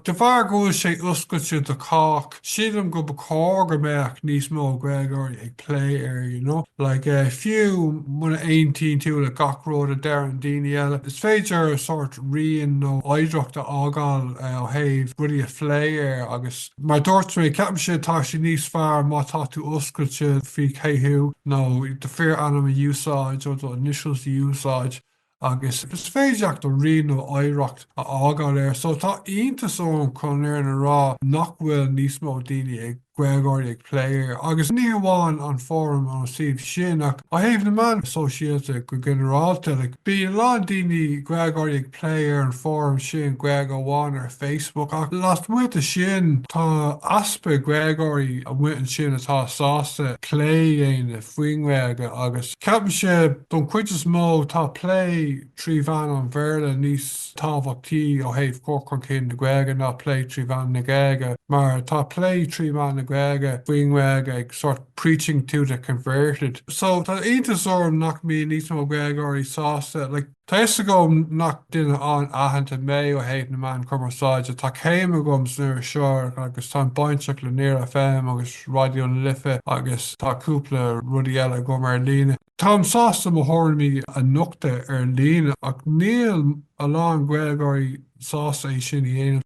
De bharr go bhfuil sé oscailte do chách, sílim go ba chóir go mbeadh níos mó Gaeilgeoirí ag plé air, you know, like fiú muna aontaíonn tú le gach rud a deireann daoine eile, is féidir sórt rian nó oidhreacht a fhágáil ó thaobh rudaí a phlé air agus mar a dúirt mé, ceapaimse, tá sé níos fearr má tá tú oscailte faoi cé thú nó do fíor ainm a úsáid or do initials a úsáid. agus is féidir leat do rian nó oidhreacht a fhágáil air so tá iontas orm chun an fhírinne a rá nach bhfuil níos mó daoine ag, Gaeilgeoirí ag plé air agus ní hamháin an fóram ón suíomh sin ach ó thaobh na meán sóisialta go ginearálta like bíonn a lán daoine, Gaeilgeoirí ag plé ar an fóram sin Gaeilge amháin ar Facebook ach lasmuigh de sin tá easpa Gaeilgeoirí amuigh ansin atá sásta plé a dhéanamh faoin nGaeilge agus Ceapaimse, don cuid is mó, tá plé trí mheán an Bhéarla níos tábhachtaí ó thaobh chur chun cinn na Gaeilge ná plé trí mheán na Gaeilge, mar tá plé trí mheán na Gaeilge, faoin nGaeilge, ag sort preaching to the converted. So, tá iontas orm nach mbíonn níos mó Gaeilgeoirí sásta, like, Tá fhios agam nach duine an-aitheanta mé ó thaobh na meán cumarsáide, tá céim agam san iriseoireacht agus táim bainteach le Near FM agus Raidió na Life agus tá cúpla rudaí eile agam ar líne. Táim sásta mo thuairimí a nochtadh ar líne ach níl a lán Gaeilgeoirí sásta é sin a dhéanamh.